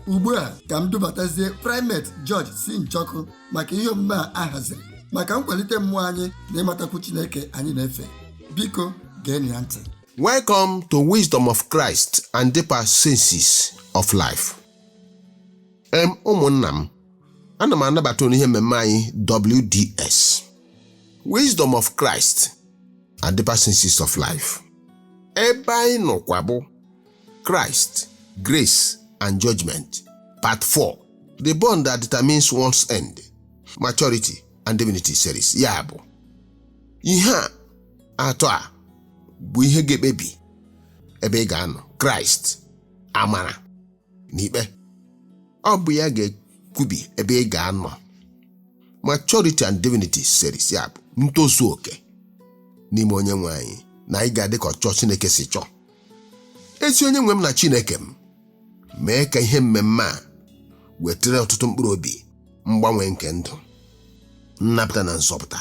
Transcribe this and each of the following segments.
ugbu a ka m dubatazie primate George C. Njoku maka ihe omume a haziri maka nkwalite mmụọ anyị na ịmatakwu Chineke anyị na-efe biko geenụ ya ntị Welcome to Wisdom of Christ and Deeper Senses of Life. Em ụmụnna m, ana m anabata unu n'ihe mmemme anyị WDS. Wisdom of Christ and Deeper Senses of Life. Ebe anyị nọkwa bụ Christ, Grace and Judgment, Part 4, The Bond That Determines One's End, Maturity and Divinity Series, ya bụ ihe atọ a bụ ihe ga-ekpebi ebe ị ga-anọ Kraịst, amara na ikpe. Ọ bụ ya ga-ekwubi ebe ị ga-anọ Maturity and Divinity Series, ya bụ ntozu oke n'ime onye nwe anyị na ị ga-adị ka ọchọ Chineke si chọọ. ezi onye nwe m na chineke m mee ka ihe mmemme a wetara ọtụtụ mkpụrụ obi mgbanwe nke ndụ nnapụta na nzọpụta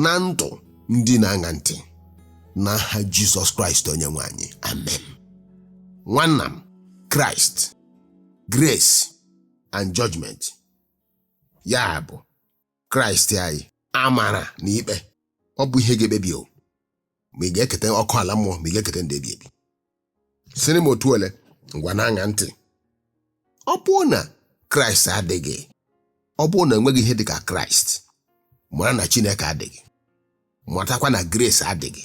na ndụ ndị na-aṅa ntị n'aha jizọs kraịst onye nwe anyị amen nwanna m kraịst grace and judgment ya bụ Kraịst anyị amara na ikpe ọ bụ ihe ga-ekpebi o ma ị ga-eketa ọkụ ala mmụọ ma ị ga-eketa ndụ ebi ebi sịrị m otu ole ngwa na-aṅa ntị ọ bụrụ na Kraịst adịghị ọ bụrụ na enweghị ihe dị ka Kraịst mara na Chineke adịghị matakwa na grace adịghị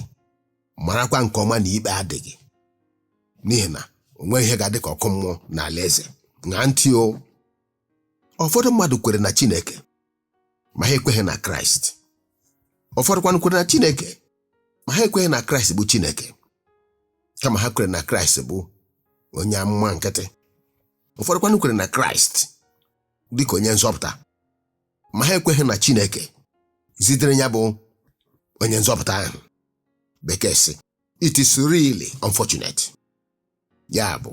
marakwa nke ọma na ikpe adịghị n'ihi na o nweghị ihe ga-adị ka ọkụ mmụọ na alaeze ṅaa ntị o ụfọdụ mmadụ kwere na Chineke ma ha ekweghị na Kraịst ụfọdụkwanụ kwere na Chineke ma ha ekweghị na Kraịst bụ Chineke kama ha kwere na Kraịst bụ onye amụma nkịtị ụfọdụkwanụ kwere na Kraịst dị ka onye nzọpụta ma ha ekweghị na Chineke zitere ya bụ onye nzọpụta ahụ bekee sị it is really unfortunate ya bụ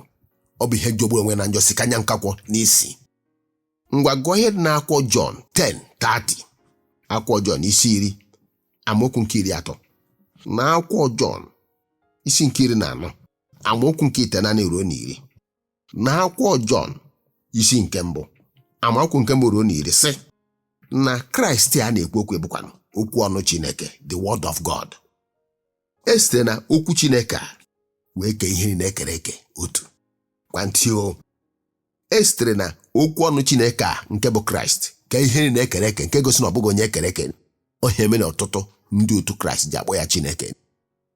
ọ bụ ihe jọgburu onwe na njọ si kanya nkakwụ n'isi ngwa gụọ ihe dị n'akwụkwọ Jọn 10:30 akwụkwọ Jọn isi iri amaokwu nke iri atọ na akwụkwọ Jọn isi nke iri na anọ amaokwu nke itenaanị ruo na iri na akwụkwọ Jọn isi nke mbụ amaokwu nke mbụ ruo na iri sị na Kraịst a na-ekwu okwu bụkwanụ okwu ọnụ Chineke the word of God e site na okwu Chineke a wee kee ihe niile ekere eke o tọkwa ntị o e sitere na okwu ọnụ Chineke a nke bụ Kraịst kee ihe niile ekere eke nke gosi na ọ bụghị onye ekere eke ọ ihe a mere na ọtụtụ ndị otu Kraịst ji akpọ ya Chineke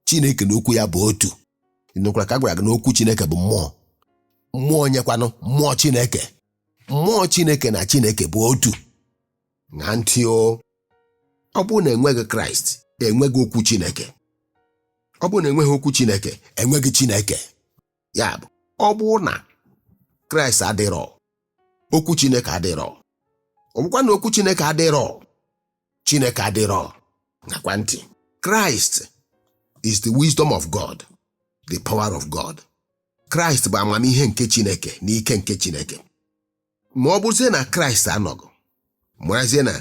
Chineke na okwu ya bụ otu ị nụkwara ka a gwara gị na okwu Chineke bụ mmụọ mmụọ onye kwanụ mmụọ Chineke mmụọ Chineke na Chineke bụ otu ṅaa ntị o ọ bụrụ na enweghị kraịst enweghị okwu chineke ọ bụrụ na enweghị okwu chineke enweghị chineke ya bụ ọ bụrụ na kraịst adịrọ okwu chineke adịrọ ọ bụkwa na okwu chineke adịrọ chineke adịrọ ṅakwa ntị christ is the wisdom of god the power of god kraịst bụ amamihe nke chineke na ike nke chineke ma ọ bụzie na kraịst anọghị marazie na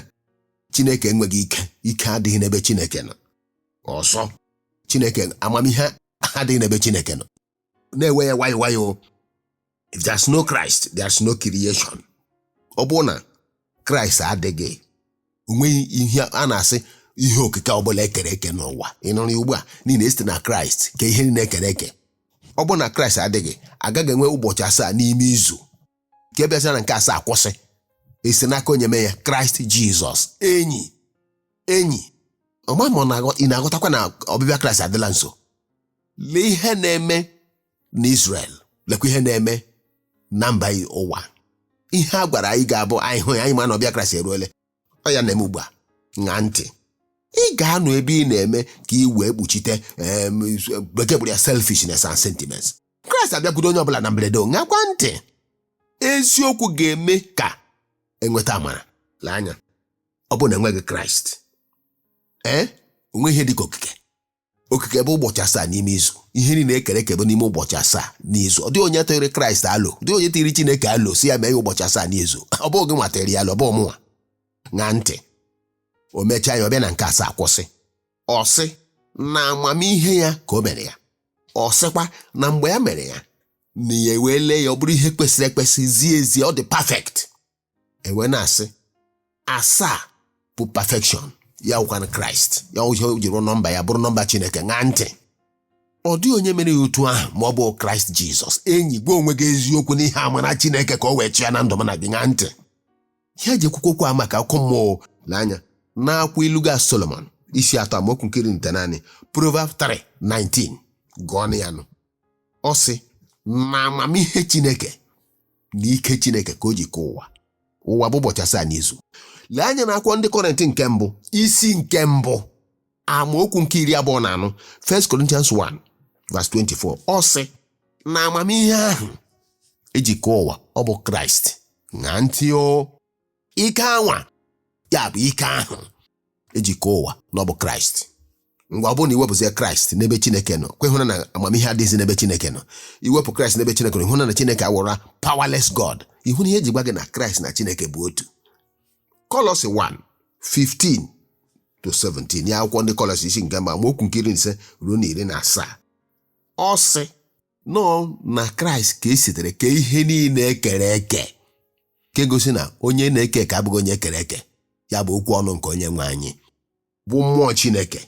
chineke enweghị ike ike adịghị n'ebe chineke nọ ọzọ chineke amamihe adịghị n'ebe chineke nọ na-ewe ya nwayọọ nwayọọ if there's no christ there's no creation ọ bụrụ na kraịst adịghị onweghị ihe a na-asị ihe okike ọbụla ekere eke n'ụwa ị nụrụ ya ugbu a n'ihi na e site na kraịst kee ihe niile ekere eke ọ bụrụ na kraịst adịghị agaghị enwe ụbọchị asaa n'ime izu nke bịazịa na nke asaa kwụsị esi n'aka onye mee ya kraịst jizọs enyi enyi ọma m ị na-aghọtakwa na ọbịbịa kraịst adịla nso lee ihe na-eme na israel lekwa ihe na-eme na mba ụwa ihe a gwara anyị ga-abụ anyị hụ ya anyị ma na ọbịbịa kraịst eruole ọ ya na-eme ugbu a ṅaa ntị ị ga-anọ ebe ị na-eme ka ị wee kpuchite em, bekee kpọrọ ya selfishness and sentiments kraịst abịakwudo onye ọbụla na mberede o, ṅakwa ntị eziokwu ga-eme ka enweta amara lee anya ọ bụrụ na enweghị kraịst ee onweghị ihe dị ka okike okike bụ ụbọchị asaa n'ime izu ihe niile ekere eke bụ n'ime ụbọchị asaa n'izu ọ dịghị onye tụrụ kraịst alo ọ dịghị onye tụrụ chineke alo sị ya mee ya ụbọchị asaa n'izu ọ bụghị gị nwa tụrụ ya alo ọ bụ mụnwa ṅaa ntị o mechaa ya ọ bịa na nke asaa kwụsị ọ sị na amamihe ya ka o mere ya ọ sịkwa na mgbe ya mere ya na ya wee lee ya ọ bụrụ ihe kwesịrị ekwesị zie ezie ọ dị perfect e wee na-asị asaa bụ perfection ya wụkwanụ kraịst ya o jiri nọmba ya bụrụ nọmba chineke ṅaa ntị ọ dịghị onye mere ya otu ahụ ma ọ bụghị kraịst jizọs enyi gwa onwe gị eziokwu n'ihi amara chineke ka o wee chịa na ndụ m na gị ṅaa ntị ihe eji ekwukwu okwu a maka akụkọ mmụọ lee anya n'akwụkwọ ilu ga solomon isi atọ amaokwu nke iri na itenaanị proverb 3 19 gụọnụ ya nụ ọ sị na amamihe Chineke na ike Chineke ka o ji kee ụwa ụwa bụ ụbọchị asaa n'izu lee anya na akwụkwọ ndị kọrịnt nke mbụ isi nke mbụ amaokwu nke iri abụọ na anọ 1 Corinthians 1 verse 24 ọ sị na amamihe ahụ eji kee ụwa ọ bụ Kraịst ṅaa ntị o ike anwa ya bụ ike ahụ eji kee ụwa na ọ bụ kraịst ngwa ọ bụrụ na iwepụzie kraịst n'ebe chineke nọ kwa ịhụna na amamihe adịghịzi n'ebe chineke nọ iwepụ kraịst n'ebe chineke nọ ịhụna na chineke awụra powerless god ịhụna ihe eji gwa gị na kraịst na chineke bụ otu kọlọsi 1 15 to 17 ya akwụkwọ ndị kọlọsi isi nke mbụ amaokwu nke iri na ise ruo na iri na asaa ọ sị na ọ na kraịst ka esitere kee ihe niile ekere eke nke gosi na onye na-eke eke abụghị onye ekere eke ya bụ okwu ọnụ nke onye nwe anyị bụ mmụọ chineke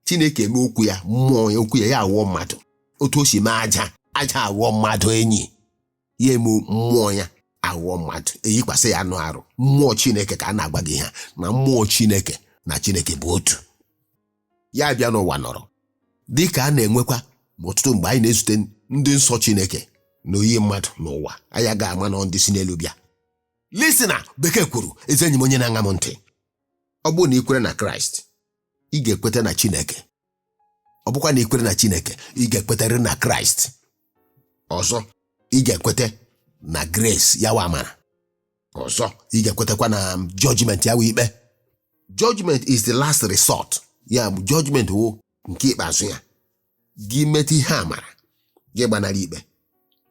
chineke eme okwu ya mmụọ ya okwu ya ya awụọ mmadụ otu o si mee aja aja awụọ mmadụ enyi ya eme mmụọ ya awụọ mmadụ eyikwasị ya anụ arụ mmụọ chineke ka a na-agwa gị ihe a na mmụọ chineke na chineke bụ otu ya abịa n'ụwa nọrọ dị ka a na-enwekwa ma ọtụtụ mgbe anyị na-ezute ndị nsọ Chineke na oyi mmadụ n'ụwa anyị agaghị ama na ọ ndị si n'elu bịa listener bekee kwuru ezi enyi m onye na-aṅa m ntị ọ bụrụ na ị kwere na Kraịst ị ga-ekweta na Chineke ọ bụkwa na ị kwere na Chineke ị ga-ekwetarị na Kraịst ọzọ ị ga-ekweta na grace ya wụ amara ọzọ ị ga-ekwetakwa na judgment ya wụ ikpe judgment is the last resort ya bụ judgment wụ nke ikpeazụ ya gị meta ihe amara gị gbanara ikpe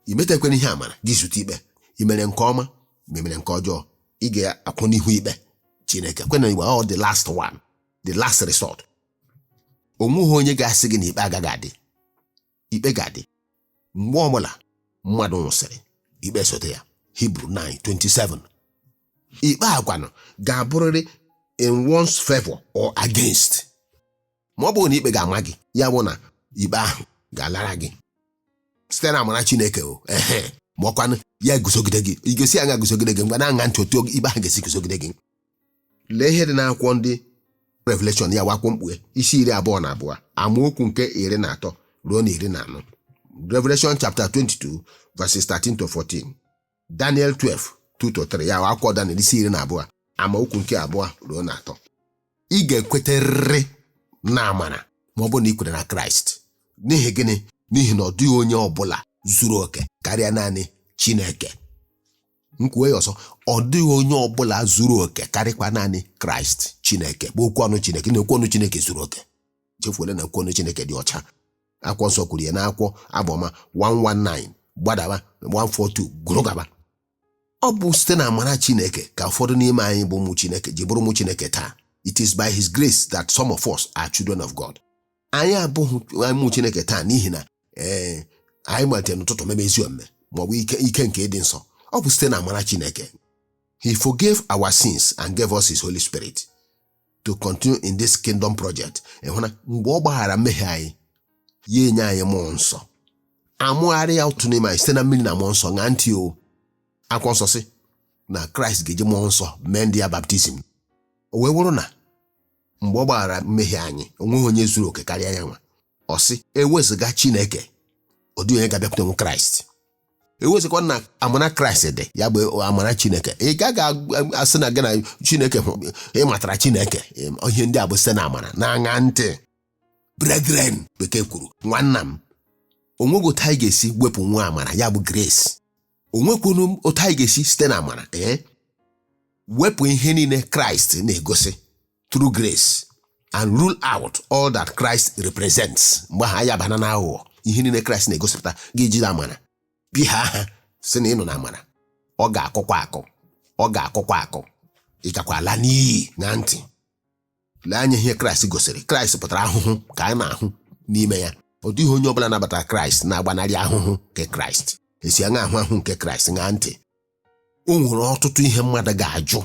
i metakwana ihe amara gị zute ikpe i mere nke ọma ma i mere nke ọjọọ ị ga-akwụ n'ihu ikpe chineke kwena ikpe ọ the last one the last resort o nweghị onye ga-asị gị na ikpe agaghị adị ikpe ga-adị mgbe ọbụla mmadụ nwụsịrị ikpe esote ya Hibru 9:27 ikpe a kwanụ ga-abụrịrị in one's favor or against ma ọ bụghị na ikpe ga-ama gị ya bụ na ikpe ahụ ga-alara gị site na amara Chineke o ehe ma ọkwanụ ya eguzogide gị ọ ga-esi aṅaa guzogide gị ngwa na-aṅa ntị otu ikpe ahụ ga-esi guzogide gị lee ihe dị n'akwụkwọ ndị revelation ya wụ akwụkwọ mkpughe isi iri abụọ na abụọ amaokwu nke iri na atọ ruo na iri na anọ revelation chapter 22 verses 13 to 14 daniel 12 2 to 3 ya wụ akwụkwọ daniel isi iri na abụọ amaokwu nke abụọ ruo na atọ ị ga-ekwetarịrị na amara ma ọ bụrụ na ị kwere na kraịst n'ihi gịnị n'ihi na ọ dịghị onye ọ bụla zuru oke karịa naanị chineke m kwuo ya ọzọ ọ dịghị onye ọbụla zuru oke karịkwa naanị kraịst chineke bụ okwu ọnụ chineke na okwu ọnụ chineke zuru oke chefuola na okwu ọnụ chineke dị ọcha akwụkwọ nsọ kwuru ya n'akwụkwọ abụọma 119 gbadawa 142 gụrụ gaba ọ bụ site na amara chineke ka ụfọdụ n'ime anyị bụ ụmụ chineke ji bụrụ ụmụ chineke taa it is by his grace that some of us are children of god anyị abụghị ụmụ chineke taa n'ihi na ee anyị malitere n'ụtụtụ mebe ezi omume maọbụ ike ike nke ịdị nsọ ọ bụ site na amara chineke he forgave our sins and gave us his holy spirit to continue in this kingdom project ị hụ na mgbe ọ gbaghara mmehie anyị ya enye anyị mmụọ nsọ a mụgharịa otu n'ime anyị site na mmiri na mmụọ nsọ ṅaa ntị o akwụkwọ nsọ sị na kraịst ga-eji mmụọ nsọ mee ndị ya baptizim o wee bụrụ na mgbe ọ gbaghara mmehie anyị onweghị onye zuru oke karịa ya nwa ọ sị ewezụga chineke ọ dịghị onye ga-abịakwute nwa kraịst ewezụkwa na amara kraịst dị ya bụ amara chineke ị gaghị asị na gị na chineke ị matara chineke ihe ndị a bụ site na amara na-aṅa ntị brethren bekee kwuru nwanna m onweghị otu anyị ga-esi wepụ nwa amara ya bụ grace o nwekwunu m otu anyị ga-esi site na amara ee wepụ ihe niile kraịst na-egosi through grace and rule out all that Christ represents mgbe ahụ anyị abaana na aghụghọ ihe niile kraịst na-egosipụta ga-eji na amara bi ha aha sị na ị nọ na amara ọ ga-akụkwa akụ ọ ga-akụkwa akụ ị gakwa ala n'iyi ṅaa ntị lee anya ihe kraịst gosiri kraịst pụtara ahụhụ ka a na-ahụ n'ime ya ọ dịghị onye ọbụla nabatara kraịst na-agbanarị ahụhụ nke kraịst esi aṅaa ahụhụ nke kraịst ṅaa ntị o nwere ọtụtụ ihe mmadụ ga-ajụ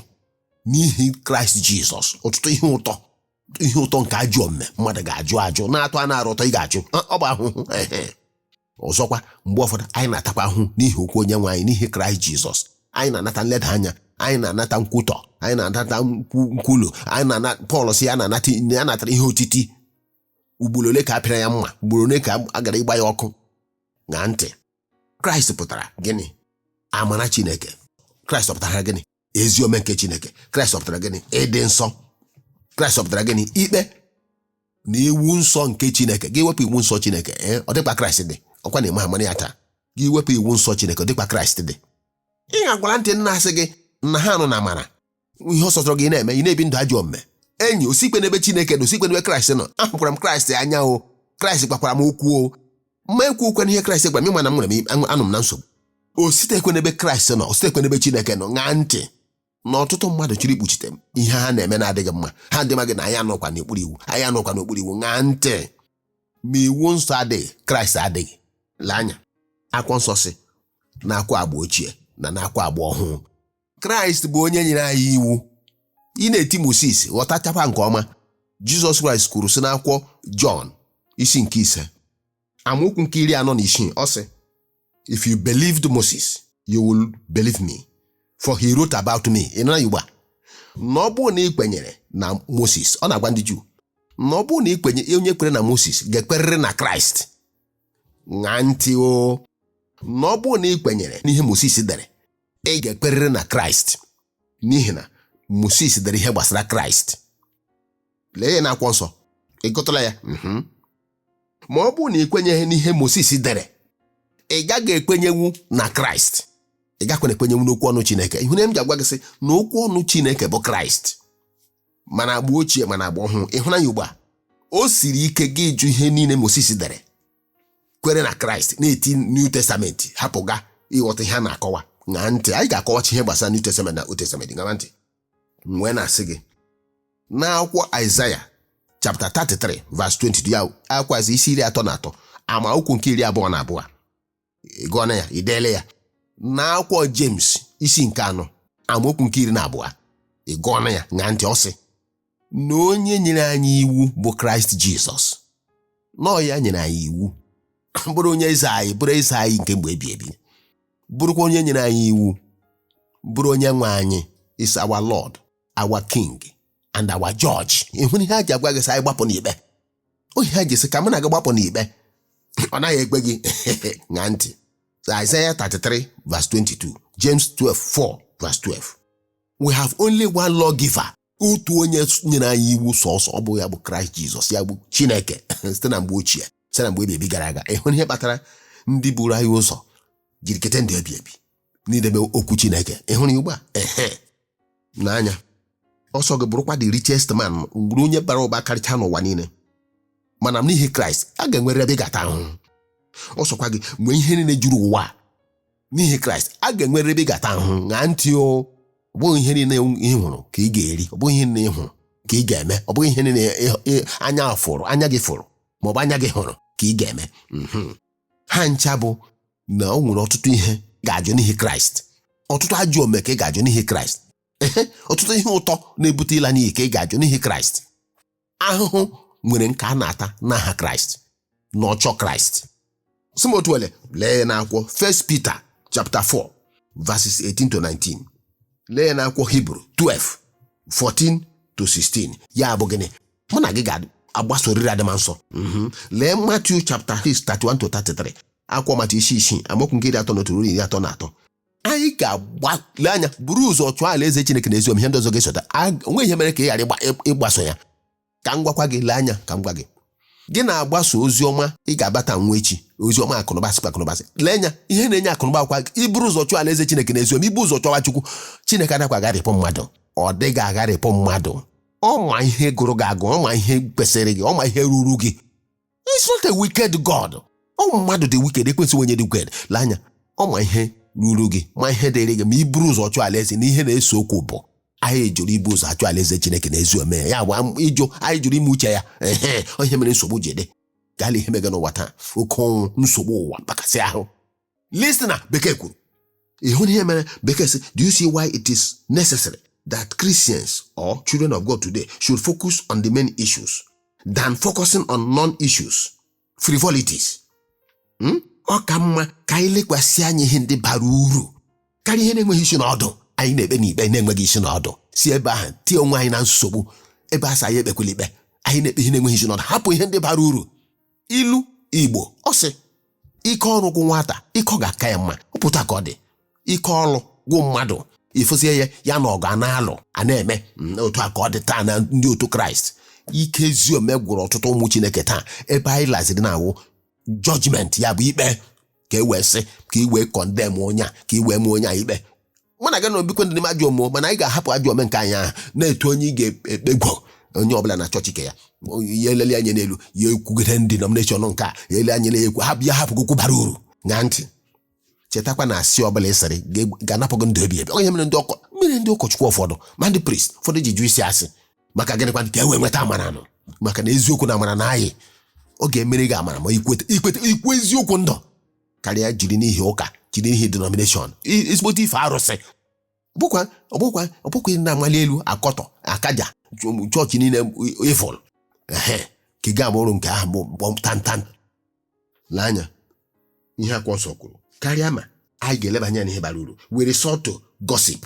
n'ihi kraịst jizọs ọtụtụ ihe ụtọ ihe ụtọ nke ajọ omume mmadụ ga-ajụ ajụ na-atọ anụ arụ ụtọ ị ga-ajụ "Ah, ọ bụ ahụhụ ehe." ọzọkwa mgbe ụfọdụ anyị na-atakwa ahụhụ n'ihi okwu onye nwe anyị n'ihi kraịst jizọs anyị na-anata nleda anya anyị na-anata nkwutọ anyị na-anata nkwu- nkwulu anyị na-ana pọl sị ya na-anata ya natara ihe otiti ugboro ole ka a pịara ya mma ugboro ole ka a gara ịgba ya ọkụ ṅaa ntị kraịst pụtara gịnị amara chineke kraịst ọ pụtara gịnị ezi omume nke chineke kraịst ọ pụtara gịnị ịdị nsọ kraịst ọ pụtara gịnị ikpe na iwu nsọ nke chineke gị wepụ iwu nsọ chineke ee ọ dịkwa kraịst dị ọkwa na ịma amara ya taa gị wepụ iwu nsọ chineke ọ dịkwa kraịst dị ị ga-agwara ndị na-asị gị na ha nọ na amara ihe ọ sọtụrụ gị na-eme ị na-ebi ndụ ajọ omume enyi o sikwe n'ebe chineke nọ o sikwe n'ebe kraịst nọ ahụkwara m kraịst anya o kraịst gwakwara m okwu o ma ekwuokwana ihe kraịst gwara m ịma na m nwere m anọ- anọ m na nsogbu o sitekwe n'ebe kraịst nọ o sitekwe n'ebe chineke nọ ṅaa ntị na ọtụtụ mmadụ chọrọ ikpuchite m ihe ha na-eme na-adịghị mma ha dị maghị na anyị anọkwa n'okpuru iwu anyị anọkwa n'okpuru iwu ṅaa ntị ma iwu nsọ adịghị kraịst adịghị lee anya akwụkwọ nsọ sị nakwa agba ochie na nakwa agba ọhụụ kraịst bụ onye nyere anyị iwu ị na-eti moses ghọtachakwa nke ọma jizọs kraịst kwuru sị n'akwụkwọ jọn isi nke ise amaokwu nke iri anọ na isii ọ sị if you believed moses you will believe me for he wrote about me ị nara igbo a na ọ bụrụ na ị kwenyere na moses ọ na-agwa ndị juu na ọ bụrụ na ị kwenye onye kwere na moses ga-ekwerịrị na kraịst ṅaa ntị o na ọ bụrụ na ị kwenyere n'ihe moses dere ị ga-ekwerịrị na kraịst n'ihi na moses dere ihe gbasara kraịst lee ya n'akwụkwọ nsọ ị gụtụla ya mhm. ma ọ bụrụ na ị kwenyeghị n'ihe moses dere ị gaghị ekwenyenwu na kraịst ị gakwana ekwenyenwu n'okwu ọnụ chineke ị hụna ihe m ji agwa gị sị na okwu ọnụ chineke bụ kraịst ma n'agba ochie ma n'agba ọhụụ ị hụrụ ya ugbu a o siri ike gị ịjụ ihe niile moses dere kwere na kraịst na-eti new testament hapụga ịghọta ihe a na-akọwa ṅaa ntị anyị ga-akọwachi ihe gbasara new testament na old testament ṅaa ntị m wee na-asị gị n'akwụkwọ aịzaya chapta 33 vas 22 ya akwazi isi iri atọ na atọ amaokwu nke iri abụọ na abụọ ị gụọna ya i deele ya n'akwụkwọ jems isi nke anọ amaokwu nke iri na abụọ ị gụọna ya ṅaa ntị ọ sị na onye nyere anyị iwu bụ kraịst jizọs na ọ ya nyere anyị iwu bụrụ onye eze anyị bụrụ eze anyị nke mgbe ebi ebi bụrụkwa onye nyere anyị iwu bụrụ onye nwe anyị is our lord our king and our judge ị hụrụ ihe ha ji agwa gị sị anyị gbapụ n'ikpe ọ ihe ha ji sị ka mụ na gị gbapụ n'ikpe ọ naghị ekpe gị ṅaa ntị Isaiah 33 verse 22 James 12 4 verse 12 we have only one lawgiver otu onye nyere anyị iwu sọsọ ọ bụ ya bụ kraịst jizọs ya bụ chineke site na mgbe ochie site na mgbe ebi ebi gara aga ị hụrụ ihe kpatara ndị buru anyị ụzọ jiri kete ndụ ebi ebi n'idebe okwu chineke ị hụrụ ya ugbu a ehe nee anya ọ sọ gị bụrụkwa the richest man bụrụ onye bara ụba karịcha n'ụwa niile mana n'ihi kraịst a ga-enwerịrị ebe ị ga-ata ahụhụ ọ sọkwa gị nwee ihe niile juru ụwa a, n'ihi kraịst a ga-enwerịrị ebe ị ga-ata ahụhụ ṅaa ntị o ọ bụghị ihe niile ị hụrụ ka ị ga-eri ọ bụghị ihe niile ị hụrụ ka ị ga-eme ọ bụghị ihe niile ị- ị- anya fụrụ anya gị fụrụ ma ọ bụ anya gị hụrụ ka ị ga-eme Mhm. ha ncha bụ na o nwere ọtụtụ ihe ị ga-ajụ n'ihi kraịst ọtụtụ ajọ omume ka ị ga-ajụ n'ihi kraịst Ehe, ọtụtụ ihe ụtọ na-ebute ịla n'iyi ka ị ga-ajụ n'ihi kraịst ahụhụ nwere nke a na-ata n'aha kraịst na ọchọ kraịst sị m otu ele lee ya n'akwụkwọ First Peter chapter 4 verses 18 to 19 lee ya n'akwụkwọ Hibru 12 14 to 16 ya bụ gịnị mụ na gị ga-agbasoriri adịm nsọ Mhm. lee Matthew chapter 6 31 to 33 akwụkwọ matiu isi isii amaokwu nke iri atọ na otu ruo iri atọ na atọ anyị ga-agbalị anya buru ụzọ chọọ alaeze chineke na ezi omume ihe ndị ọzọ ga-esota A- o nwee ihe mere ka ị ghara ịgba- ị- ịgbaso ya ka m gwakwa gị lee anya ka m gwa gị gị na-agbaso ozi ọma ị ga-abata nwa echi ozi ọma akụnụba sịkwa akụnụba sị lee anya ihe na-enye akụnụba ọ kwa iburu ụzọ chọọ alaeze chineke na ezi omume ibu ụzọ chọwa chukwu chineke adakwa agharịpụ mmadụ ọ dịghị agharịpụ mmadụ ọ ma ihe gụrụ gị agụ ọ ma ihe kwesịrị gị ọ ma ihe ruru gị He's not a wicked God. Ọ bụ mmadụ dị wicked ekwensu onye dị wicked lee anya ọ ma ihe ruru gị ma ihe dịrị gị ma i buru ụzọ chọọ alaeze na ihe na-ese okwu bụ anyị jụrụ ibu ụzọ achọ alaeze Chineke na ezi ome ya bụ ịjụ anyị jụrụ ime uche ya ehe ihe mere nsogbu ji dị gaa lee ihe mega n'ụwa taa oke ọnwụ nsogbu ụwa mkpakasị ahụ listener bekee kwuru ị hụna ihe mere bekee sị do you see why it is necessary that christians or children of god today should focus on the main issues than focusing on non-issues frivolities Hmm? ọ ka mma ka anyị lekwasị anya ihe ndị bara uru karịa ihe na-enweghị isi na ọdụ anyị na-ekpe n'ikpe na-enweghị isi na ọdụ si ebe ahụ tie onwe anyị na nsogbu ebe a sị anyị ekpekwala ikpe anyị na-ekpe ihe na-enweghị isi na ọdụ hapụ ihe ndị bara uru ilu igbo ọ sị ike ọrụ gwụ nwata ike ọgụ aka ya mma ọ bụ otu a ka ọ dị ike ọrụ gwụ mmadụ ị fụzie ya ya na ọgụ a na-alụ a na-eme mm, otu a ka ọ dị taa na ndị otu kraịst ike ezi ome gwụrụ ọtụtụ ụmụ chineke taa ebe anyị laziri na-awụ judgment ya bụ ikpe ka e wee sị ka i wee condemn onye a ka i wee maa onye a ikpe mụ na gị na obikwe ndị na-eme ajọ omume mana anyị ga-ahapụ ajọ ome nke anyị ahụ na-etu onye ị ga-ekpegwo onye ọbụla na chọọchị ke ya ya eleli anya n'elu ya ekwugide denomination nke a ya ele anya na-ekwu hapụ ya hapụ okwu bara uru ṅaa ntị chetakwa na asị ọbụla ị sịrị ga- ga-anapụ gị ndụ ebi ebi ọ ya mere ndị ọkọ mere ndị ụkọchukwu ụfọdụ ma ndị priest ụfọdụ ji jụ ịsị asị maka gịnịkwa ka e wee nweta amara nụ maka na eziokwu na amara na anyị ọ ga-emere gị amara ma i kweta i kweta ikwu eziokwu ndụ karịa jiri n'ihi ụka jiri n'ihi denomination i- ezigbote ife arụsị bụkwa ọbụkwa ọbụkwa ị na-amali elu akọtọ akaja chọ- chọọchị niile ị fụrụ ehe ka ị ga-ama ọrụ nke ahụ bụ bọm tantan lee anya ihe akwụkwọ nsọ kwuru karịa ma anyị ga-eleba anya n'ihe bara uru we resort to gossip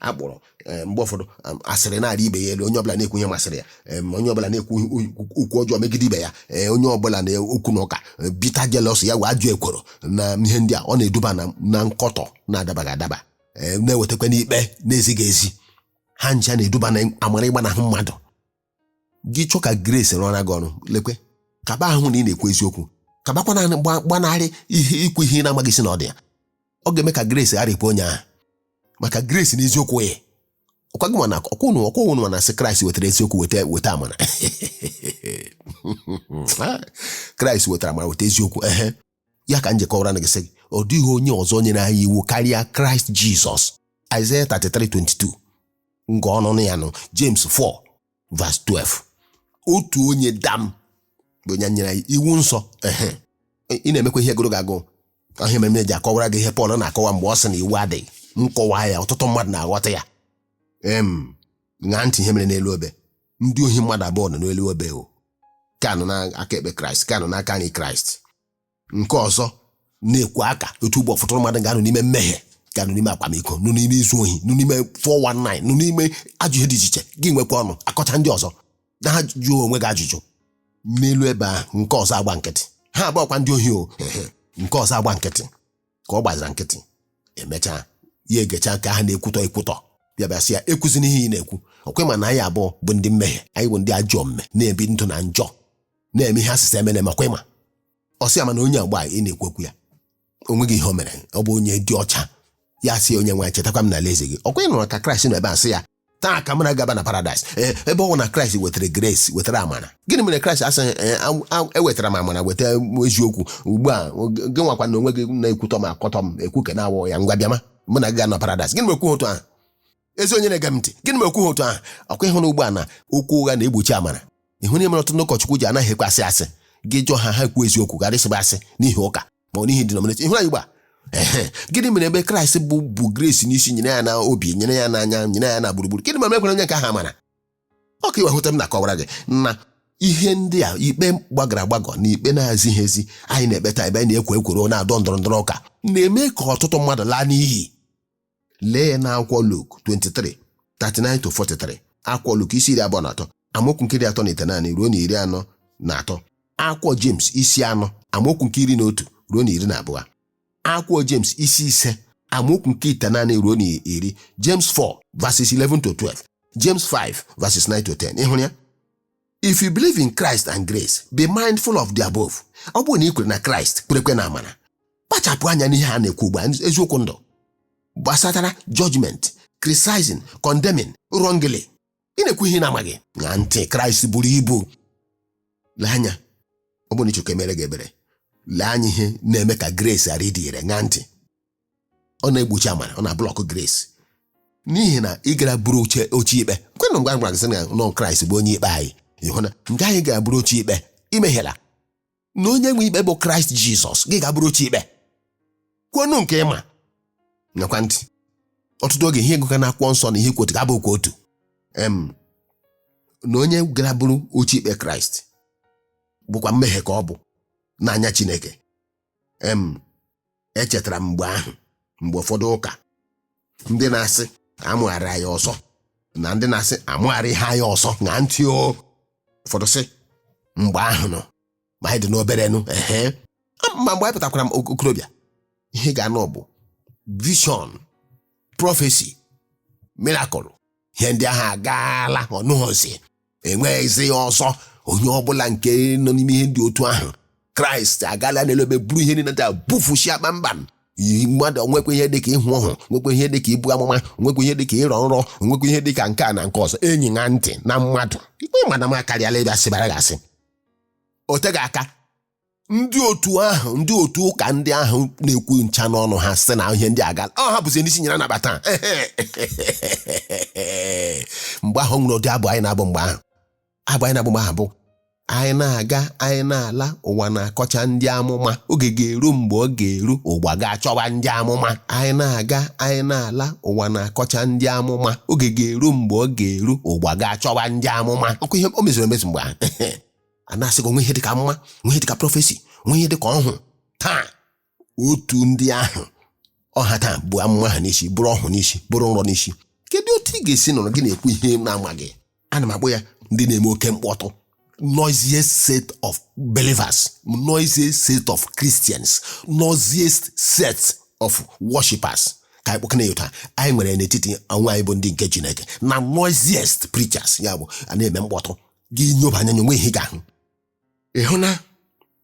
a kpọrọ eh, mgbe ụfọdụ um, asịrị na-arị ibe ya elu onye ọbụla na-ekwu ihe masịrị ya em, onye ọbụla na-ekwu ihe- okwu ọjọọ megide ibe ya eh, onye ọbụla na okwu na ụka eh, bitter jealousy ya wụ ajọ ekworo na ihe ndị a ọ na-eduba na- na nkọtọ na-adabaghị adaba eh, na-ewetakwa n'ikpe na-ezighị ezi ha ncha na-eduba na amara ịgbanahụ mmadụ gị chọọ ka grace rụọra gị ọrụ lekwe kaba ahụ na ị na-ekwu eziokwu kabakwa naanị gba- gbanarị ihe ikwu ihe ị na-amaghị isi na ọdụ ya ọ ga-eme ka grace gharapụ onye ahụ maka grace na eziokwu yi ọkwa gị ma na ọkwa unu ọkwa unu ma na a sị kraịst wetara eziokwu weta weta amara kraịst wetara amara weta eziokwu ehe ya ka m ji kọwaranụ gị sị gị ọ dịghị onye ọzọ nyere anyị iwu karịa kraịst jizọs Aịzaya 33:22 nke ọhụrụ ya nọ James 4 verse 12 otu onye dam bụ onye nyere anyị iwu nsọ ehe ị na-emekwa ihe gụrụ gị agụụ ahụ ihe mere m ji akọwara gị ihe Pọl na-akọwa mgbe ọ sị na iwu adịghị m kọwaa ya ọtụtụ mmadụ na-aghọta ya em ṅaa ntị ihe mere n'elu obe ndị ohi mmadụ abụọ nọ n'elu obe o nke a nọ n'aka ekpe kraịst nke a nọ n'aka nri kraịst nke ọzọ na-ekwu aka otu ugbu a ụfọdụ mmadụ ga-anọ n'ime mmehie ga-anọ n'ime akwamiko nọ n'ime izu ohi nọ n'ime 419 nọ n'ime ajọ ihe dị iche iche gị nwekwa ọnụ akọcha ndị ọzọ ị naghị ajụ onwe gị ajụjụ n'elu obe ahụ nke ọzọ agba nkịtị ha bụkwa ndị ohi o nke ọzọ agba nkịtị ka ọ gbazira nkịtị emechaa ya egecha nke ahụ na-ekwutọ ekwutọ bịa bịa sị ya ekwuzina ihe ị na-ekwu ọkwa ị ma na anyị abụọ bụ ndị mmehie anyị bụ ndị ajọ omume na-ebi ndụ na njọ na-eme ihe a sị emena eme ọkwa ị ma ọ sị ya mana onye a ugbu a ị na-ekwu okwu ya o nweghị ihe o mere ọ bụ onye dị ọcha ya sị onye nwe chetakwa m n'alaeze gị ọkwa ị nụrụ ka kraịst nọ ebe a sị ya taa ka mụ na gị ga-aba na paradaịs ee ebe ọ bụ na kraịst wetara grace wetara amara gịnị mere kraịst asịghị ee a- a- ewetara m amara weta eziokwu ugbu a gị nwakwa na onwe gị na-ekwutọ m akọtọ m ekwu ka na-awọ ya ngwa bịama mụ na gị ga-anọ paradaịs gịnị mere o kwughị otu ahụ ezi onye na-ege m ntị gịnị mere o kwughị otu ahụ ọkwa ịhụrụ ugbu a na okwu ụgha na-egbochi amara ịhụrụ ihe mere ọtụtụ ndị ụkọchukwu ji anaghị ekwe asị asị gị jụọ ha ha ekwu eziokwu ghara ịsịba asị n'ihi ụka ma ọ n'ihi denomination ịhụrụ ugbu a gịnị mere ebe kraịst bụ bu grace n'isi nyere ya na obi nyere ya n'anya nyere ya na gburugburu gịnị mere ekwere onye nke ahụ amara ọ ka i wee hụta m na-akọwara gị na ihe ndị a ikpe gbagara agbagọ na ikpe na-ezighị ezi anyị na-ekpeta ebe anyị na-ekwo ekworo na-adọ ndọrọ ndọrọ ụka na-eme ka ọtụtụ mmadụ laa n'iyi lee ya n'akwụkwọ Luk 23 39 to 43 akwụkwọ Luk isi iri abụọ na atọ amaokwu nke iri atọ na ite naanị ruo na iri anọ na atọ akwụkwọ James isi anọ amaokwu nke iri na otu ruo na iri na abụọ akwụkwọ James isi ise amaokwu nke ite naanị ruo na iri James 4 verses 11 to 12 James 5 verses 9 to 10 ịhụrụ ya if you believe in Christ and grace be mindful of the above ọ bụrụ na ị kwere na Kraịst kwerekwe na amara kpachapụ anya n'ihe a na-ekwu ugbu a eziokwu ndụ gbasatara judgment criticizing condemning wrongly ị na-ekwu ihe ị na-amaghị ṅaa ntị Kraịst buru ibu lee anya ọ bụrụ na ị chọ ka e meere gị ebere lee anya ihe na-eme ka grace ghara ịdị ire ṅaa ntị ọ na-egbochi amara ọ na-ablọkụ grace n'ihi na ị gara buru oche oche ikpe kwenụ mgbe gwara gị na ọ kraịst bụ onye ikpe anyị ị hụ na nke anyị gara buru oche ikpe i mehiela na onye nwe ikpe bụ kraịst jizọs gị gaa buru oche ikpe kwuonụ nke ị ma ṅaakwa ntị ọtụtụ oge ihe ị gụka na akwụkwọ nsọ na ihe kwotu ga-abụ okwu otu em na onye gara buru oche ikpe kraịst bụkwa mmehie ka ọ bụ n'anya chineke em echetara m mgbe ahụ mgbe ụfọdụ ụka ndị na-asị amụgharị anyị ọzọ na ndị na-asị amụgharịghị anyị ọzọ ṅaa ntị o ụfọdụ sị mgbe ahụ nọ ma anyị dị n'obere nụ ehe ma mgbe anyị pụtakwara m ok- okorobịa ihe ị ga-anụ bụ vision prọfesi mirakụl ihe ndị ahụ agaala ọ nọghịzi enweghịzi ya ọzọ onye ọbụla nke nọ n'ime ihe ndị otu ahụ kraịst agaala n'elu obe buru ihe niile da bufuchia kpamkpam Yi mmadụ nwekwa ihe dịka ịhụ ọhụ o nwekwa ihe dịka ibu amụma o nwekwa ihe dịka ịrọ nrọ o nwekwa ihe dịka nke a na nke ọzọ enyi ṅaa ntị na mmadụ ikpe mmadụ ma karịala ịbịa sịbara gasị o teghị aka ndị otu ahụ ndị otu ụka ndị ahụ na-ekwu ncha n'ọnụ ha sị na ihe ndị a agaala ọ ha bụzi ndị isi nyere anabata ha. mgbe ahụ ọ nwere ụdị abụ anyị na-abụ mgbe ahụ abụ anyị na-abụ mgbe ahụ bụ anyị na-aga anyị na-ala ụwa na-akọcha ndị amụma oge ga-eru mgbe ọ ga-eru ụwa ga-achọwa ndị amụma anyị na-aga anyị na-ala ụwa na-akọcha ndị amụma oge ga-eru mgbe ọ ga-eru ụwa ga-achọwa ndị amụma ọ bụ ihe o meziri emezu mgbe ahụ a na-asị gị o nwe ihe dịka amụma nwe ihe dịka prọfesi nwe ihe dịka ọhụ taa otu ndị ahụ ọ ha taa bu amụma ha n'isi buru ọhụ n'isi buru nrọ n'isi kedu otu ị ga-esi nọrọ gị na-ekwu ihe ị na-amaghị ana m akpọ ya ndị na-eme oke mkpọtụ noisiest set of believers noisiest set of christians noisiest set of worshippers ka anyị kpọkana ya otu a anyị nwere n'etiti onwe anyị bụ ndị nke chineke na noisiest preachers ya bụ a na-eme mkpọtụ gị nyoba anya o nwe ihe ị ga-ahụ ị hụ na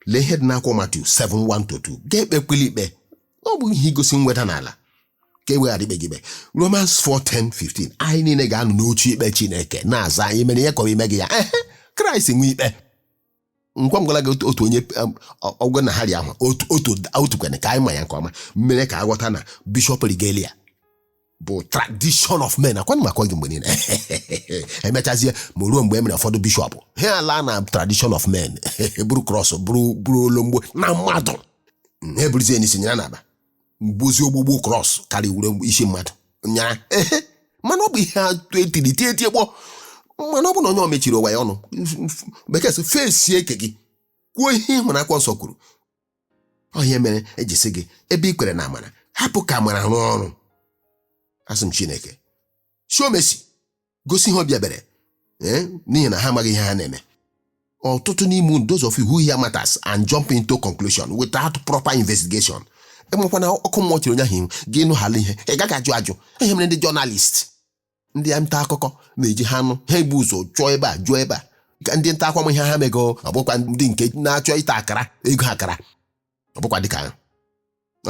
lee ihe dị n'akwụkwọ Matiu 7:1-2 gị ekpekwala ikpe ọ bụ ihe igosi nweda n'ala ka e wee ghara ikpe gị ikpe Romans 4:10-15 anyị niile ga-anọ n'oche ikpe Chineke na-aza ihe anyị mere ihe kọrọ ime gị ya ehe Kraịst nwe ikpe ngwa ngwala gị otu- otu onye um, ọ- ọgwụ na hari ahụ otu otu otu kwene ka anyị ma ya nke ọma mere ka a ghọta na bishọp regalia bụ tradition of men akwanụ maka gị mgbe niile emechazie ma ruo mgbe e mere ụfọdụ bishọp ha ala na tradition of men buru krọs buru buru olomgbo na mmadụ ha eburuzie n'isi nyara na aba mgbozi ogbugbu krọs karịa were isi mmadụ nyara ehe mana ọ bụ ihe atụ e tiri tie tie gboo mana ọ bụ na onye ọ mechiri ụwa ya ọnụ bekee sị fesie eke gị kwuo ihe ị hụrụ akwụkwọ nsọ kwuru ọ ihe mere eji sị gị ebe i kwere na amara hapụ ka amara rụọ ọrụ asị m chineke show mercy gosi ha obi ebere ee n'ihi na ha amaghị ihe ha na-eme ọtụtụ n'ime unu those of you who hear matters and jump into conclusion without proper investigation enwekwana ọkụ mmụọ chere onye ahụ ihu gị nụhala ihe ị gaghị ajụ ajụ ihe mere ndị journalist ndị nta akụkọ na-eji ha nụ ihe ha ebu ụzọ chọọ ebe a jụọ ebe a ka ndị nta akụkọ ma ihe ha mego ọ bụkwa ndị nke na-achọ ịta akara ego akara ọ bụkwa dịka ha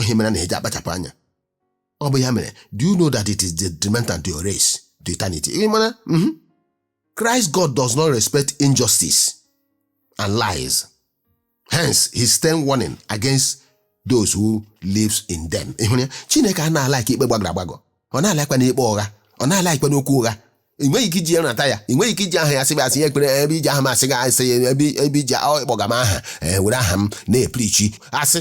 ihe mere na-eji akpachapụ anya ọ bụ ya mere do you know that it is detrimental to your race to eternity ị mara mhm. Christ God does not respect injustice and lies hence his stern warning against those who lives in them ịhụrụ ya chineke anaghị a-like ikpe gbagọrọ agbagọ ọ naghị a-likekwanụ ikpe ụgha ọ naghị a-likekwanụ okwu ụgha ị nweghị ike iji ya nata ya ị nweghị ike iji aha ya sịbe asị ya ekwere ebe i ji aha m asịga asị ya ebe ebe iji ọ ịkpọga m aha ee, were aha m na-eprichi asị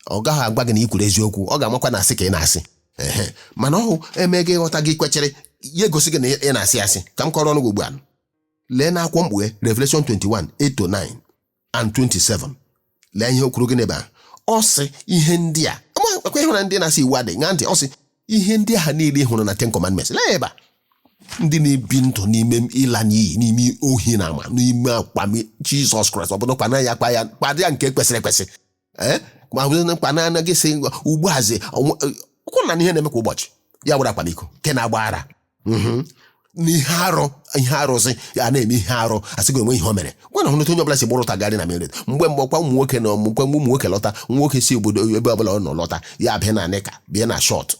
ọ gaghị agwa gị na ị kwuru eziokwu ọ ga-amakwa na asị ka ị na-asị ehe mana ọhụ eme gị ịghọta gị kwechere ya egosi gị na ị na-asị asị ka m kọọrọnụ gị ugbu a lee n'akwụkwọ mkpughe Revelation 21 8 to 9 and 27 lee ihe o kwuru gị n'ebe a ọ sị ihe ndị a ọkwa ị hụrụ ndị na-asị iwu adịghị ṅaa ntị ọ sị ihe ndị ahụ niile ị hụrụ na ten commandments lee ebe a ndị na-ebi ndụ n'ime ịla n'iyi n'ime ohi na ama n'ime akwami jizọs kraịst ọ bụrụ kwa na ya kwa ya kwadị ya nke kwesịrị ekwesị ee ma hụzie na mkpa na anaghị sị ugbu azi kwụ na ihe na-eme kwa ụbọchị ya were akwamiko nke na-agba ara Mhm. n'ihe arụ ihe arụzi ya na-eme ihe arụ asị gị o nwe ihe o mere ngwanụ hụnụ otu onye ọbụla si gbara ọtọ agagharị na mere mgbe mgbe ọkwa ụmụ nwoke na ọmụkwa ụmụ nwoke lọta nwa nwoke si obodo ebe ọbụla ọ nọ lọta ya bịa na nịka bịa na shọt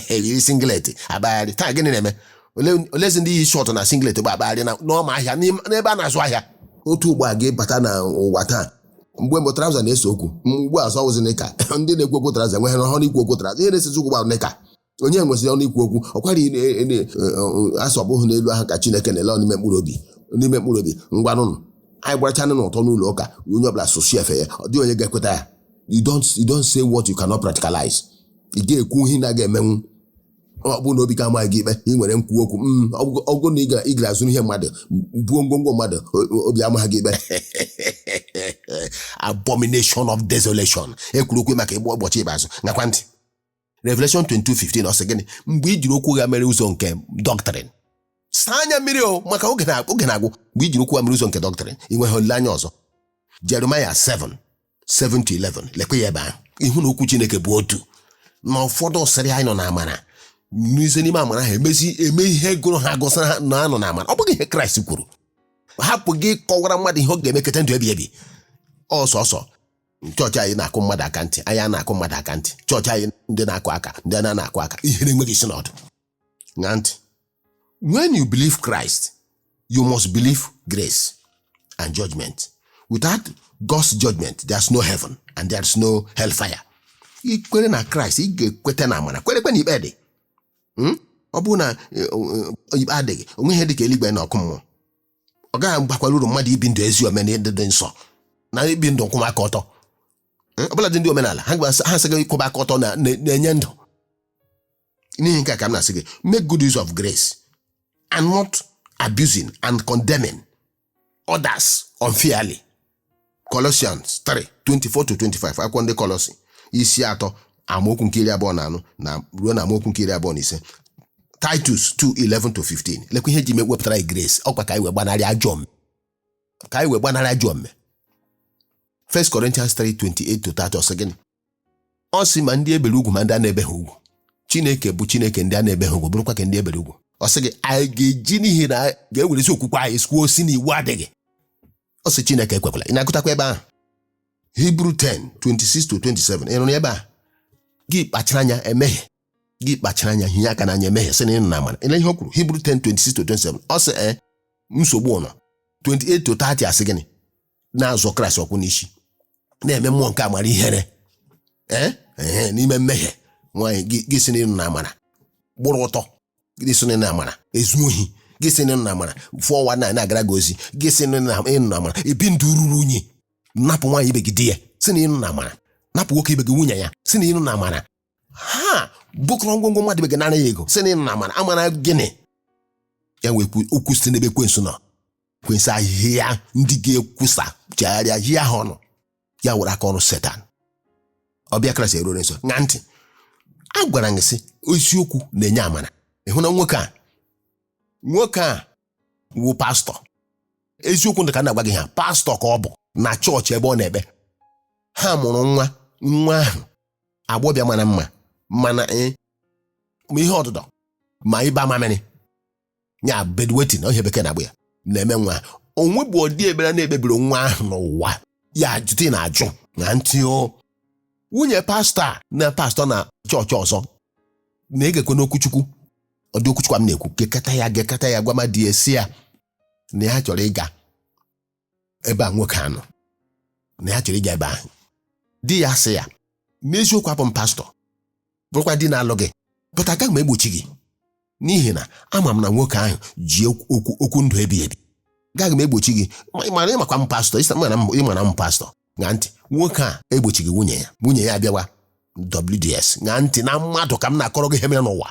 yiri singlet agbagharị taa gịnị na-eme Ole- olezi ndị yi shọt na singlet bụ agbagharị na n'ọma ahịa n'ime- n'ebe a na-azụ ahịa otu ugbo a ga-ebata na ụwa taa mgbe mbụ traụza na-ese okwu mgbe ugbu a ọ wụzi nịka ndị na-ekwu okwu traụza enweghị ọnụ ikwu okwu traụza ihe na-esezi okwu bụ nịka onye nweziri ọnụ ikwu okwu ọkwa a sị ọ bụghị n'elu ahụ ka chineke na-ele n'ime mkpụrụ obi n'ime mkpụrụ obi ngwanụnụ anyị gbarachanụ ọtọ n'ụlọ ụka onye ọbụla sụsụ efe ya ọ dịghị onye ga-ekweta ya you don't you don't say what you cannot practicalize ị ga-ekwu ihe na ga-emenwu ọ bụrụ na obi gị amaghị gị ikpe ị nwere nkwu okwu "Mm, ọ bụgo- ọ bụrụ na ị ga- ị gara zuru ihe mmadụ buo ngwongwo mmadụ o- o- obi amaghị gị ikpe abomination of desolation ekwuru okwu maka ịgba ụbọchị ikpeazụ ṅaakwa ntị revelation 22:15 ọ sị gịnị mgbe i jiri okwu ụgha mere ụzọ nke doctrine saa anya mmiri o maka oge na- oge na-agwụ mgbe i jiri okwu ụgha mere ụzọ nke doctrine ị nweghị olileanya ọzọ jeremaya 7 7 to 11 lekwa ya ebe ahụ ị hụ na okwu chineke bụ otu na ụfọdụ sịrị anyị nọ na amara n'ize n'ime amara ha emezi eme ihe gụrụ ha gụsịrị ha na a nọ na amara ọ bụghị ihe kraịst kwuru hapụ ịkọwara mmadụ ihe ọ ga-eme keta ndụ ebi ebi ọ sọsọ chọọchị anyị na-akụ mmadụ aka ntị anyị a na-akụ mmadụ aka ntị chọọchị anyị ndị na-akụ aka ndị a na-akụ aka ihe na-enweghị isi na ọdụ ṅaa ntị when you believe Christ you must believe grace and judgment without God's judgment there's no heaven and there's no hellfire i kwere na Christ ị ga-ekweta na amara kwerekwa na ikpe dị Hmm? ọ bụrụ na eh, eh, ikpe adịghị o nweghị ihe dị ka eluigwe na ọkụ mmụọ ọ gaghị agbakwara uru mmadụ ibi ndụ ezi omume na ịdị nsọ na ibi ndụ nkwụwa aka ọtọ Hmm? ọbụladị ndị omenala ha gba- ha asị gị ịkwụba aka ọtọ na- na- na-enye ndụ n'ihi nke a ka m na-asị gị make good use of grace and not abusing and condemning others unfairly Colossians 3 24 to 25 akwụkwọ ndị Kọlọsi isi atọ amaokwu nke iri abụọ na anọ na ruo na amaokwu nke iri abụọ na ise Titus 2 11 to 15 lekwa ihe e ji mee wepụtara anyị grace ọ kwa ka anyị wee gbanarị ajọ omume ka anyị wee gbanarị ajọ omume 1 Corinthians 3 28 to 30 ọ sị gịnị ọ sị ma ndị e bere ugwu ma ndị a na-ebeghị ugwu chineke bụ chineke ndị a na-ebeghị ugwu bụrụkwa ka ndị e bere ugwu ọ sị gị anyị ga-eji n'ihi na anyị ga-ewerezi okwukwe anyị kwuo sị na iwu adịghị ọ sị chineke ekwekwala ị na-agụtakwa ebe ahụ hibru 10 26 to 27 ị nụrụ ebe a gị kpachara anya emehie gị kpachara anya hinye aka n'anya emehie sị na ị nọ na amara ele ihe o kwuru hibru 10 26 to 27 ọ sị ee nsogbu nọ 28 to 30 a sị gịnị na-azọ kraịst ụkwụ n'isi na-eme mmụọ nke amara ihere ee ehe n'ime mmehie nwaanyị gị gị sị na ị nọ na amara gbụrụ ọtọ gị sị na ị nọ na amara ezu ohi gị sị na ị nọ na amara 419 na-agara gị ozi gị sị na ị nọ na ị nọ na amara ebi ndụ ruru unyi napụ nwaanyị ibe gị di ya sị na ị nọ na amara napụ nwoke ibe gị nwunye ya sị na ị nọ na amara ha bukọrọ ngwongwo mmadụ ibe gị nara ya ego sị na ị nọ na amara amara gịnị ya wee kwuo okwu site n'ebe ekwensu nọ ekwensu ahịhịa ndị ga-ekwusa chegharịa hie ha ọnụ ya were aka ọrụ setan ọbịbịa kraịst erure nso ṅaa ntị a gwara gị sị eziokwu na-enye amara ị hụ na nwoke a nwoke a wụ pastọ eziokwu dị ka na-agwa gị ha pastọ ka ọ bụ na chọọchị ebe ọ na-ekpe ha mụrụ nwa nwa ahụ agbọbịa mara mma mana e ma ihe ọdụdọ ma ịba mamịrị ya bedwetting ihe bekee na-akpọ ya na-eme nwa onwe bụ ọdị ebere na-ekpebiri nwa ahụ n'ụwa ya jụta ị na-ajụ na ntị o nwunye pastọ a na pastọ na chọọchị ọzọ na-egekwanụ okwu chukwu ụdị okwu chukwu a m na-ekwu gekata ya gekata ya gwa mmadụ sị ya na ya chọrọ ịga ebe a nwoke a nọ na ya chọrọ ịga ebe ahụ di ya sị ya n'eziokwu abụ m pastọ bụrụkwa di na-alụ gị but agaghị m egbochi gị n'ihi na ama m na nwoke ahụ ji okwu ndụ ebi ebi gaghị m egbochi gị ma ị mara ịmakwa m pastọ ịsa mara m ịmara m pastọ ṅaa ntị nwoke a egbochighị nwunye ya nwunye ya abịawa WDS ṅaa ntị na mmadụ ka m na-akọrọ gị ihe mere n'ụwa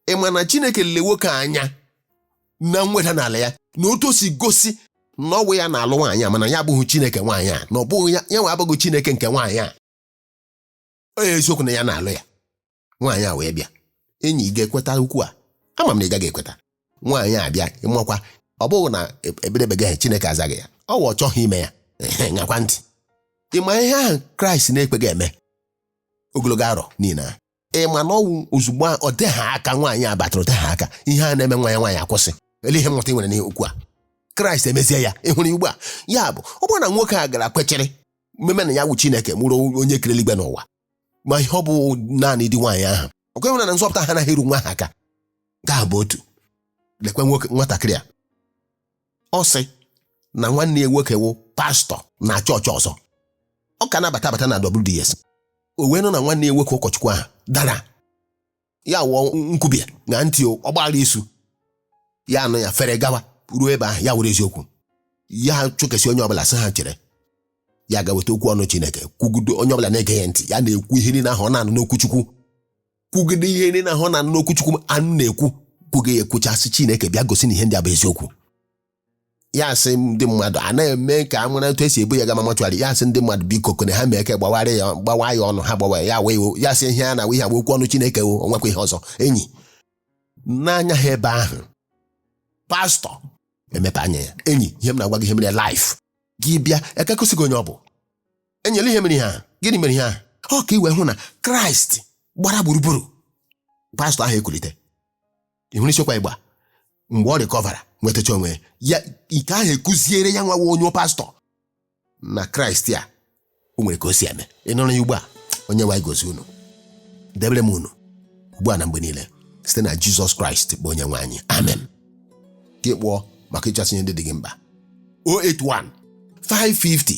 ị ma na chineke lele nwoke a anya na mweda n'ala ya na otu o si gosi na ọ wụ ya na-alụ nwaanyị a mana ya abụghị chineke nwaanyị a na ọ bụghị ya ya nwa abụghị chineke nke nwaanyị a ọ wụ eziokwu na ya na-alụ ya nwaanyị a wee bịa enyi ị ga-ekweta okwu a ama m na ị gaghị ekweta nwaanyị a bịa ịmakwa ọ bụghị na ebedebeghị ya chineke azaghị ya ọ wụ ọ chọghị ime ya Ehe, ṅakwa ntị ị ma ihe ahụ kraịst na-ekweghị eme ogologo arọ niile a ị ma na ọ wụ ozugbo a, o teghị aka nwaanyị a batara o teghị aka ihe a na-eme nwa ya nwaanyị akwụsị ele ihe mmụta ị nwere n'okwu a kraịst emezie ya ị hụrụ ya ugbu a ya bụ ọ bụrụ na nwoke a gara kwechiri mmeme na ya wụ chineke bụrụ onye kere eluigwe na ụwa ma ihe ọ bụ naanị di nwaanyị ahụ ọ kweghị na nzọpụta ha anaghị eru nwa ha aka nke ahụ bụ otu lekwe nwatakịrị a ọ sị na nwanne ya nwoke wụ pastọ na chọọchị ọzọ ọ ka na-abata abata na WDS o wee nụ na nwanne ya nwoke ụkọchukwu ahụ dara ya wụ nkwubie na ntị ọgbaghara isu ya anụ ya fere gawa ruo ebe ahụ ya were eziokwu ya chụkesị onye ọbụla sị ha chere ya gaa weta okwu ọnụ Chineke kwugide onye ọbụla na-ege ya ntị ya na-ekwu ihe niile ahụ ọ na-anụ n'okwu chukwu kwugide ihe niile ahụ ọ na-anụ n'okwu chukwu a nọ na-ekwu kwugide ya ekwuchaa sị chineke bịa gosi na ihe ndị a bụ eziokwu ya asị ndị mmadụ a na-eme ka a mara etu esi ebu ya gama mọchụarị ya asị ndị mmadụ biko kone ha mee ka gbawara ya gbawa ya ọnụ ha gbawa ya wee wo ya sị ihe a na ihe agba okwu ọnụ chineke wo o nwekwa ihe ọzọ enyi n'anya ha ebe ahụ pastọ emepe anya ya enyi ihe m na-agwa gị ihe mere live gị bịa a ga-egosi gị onye ọ bụ enyi lee ihe mere ihe a gịnị mere ihe a ọ ka i wee hụ na kraịst gbara gburugburu pastọ ahụ ekulite ị hụrụ isiokwu ugbu a mgbe ọ rịkọvara nwetacha onwe ya ihe ahụ ekụziere ya nwa wụ onye pastọ na kraịst a o nwere ka o si eme ị nụrụ ya ugbu a onye nwe anyị gọzie unu debere m unu ugbu a na mgbe niile site na jizọs kraịst bụ onye nwe anyị amen gị kpọọ maka ịchọsị ihe ndị dị gị mkpa 081 550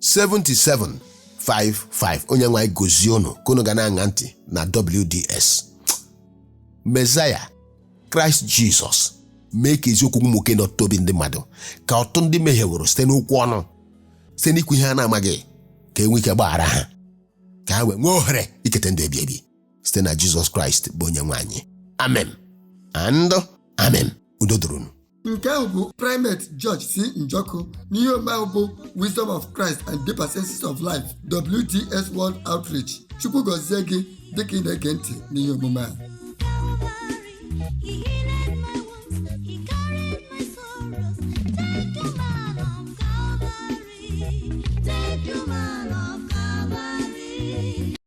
7755 onye nwe anyị gọzie unu ka unu ga na-aṅa ntị na WDS Mezaya Kraịst Jizọs mee ka eziokwu nwukee n'ọtụtụ obi ndị mmadụ ka ọtụtụ ndị mehieworo site n'okwu ọnụ site n'ikwu ihe ha na-amaghị ka e nwee ike gbaghara ha ka ha wee nwee ohere iketa ndụ ebi ebi site na Jizọs Kraịst bụ onye nwe anyị amen and amen udo dịrị unu nke ahụ bụ primate George C. Njoku n'ihe omume a bụ Wisdom of Christ and Deeper Senses of Life WDS World Outreach Chukwu gọzie gị dịka ị na-ege ntị n'ihe omume a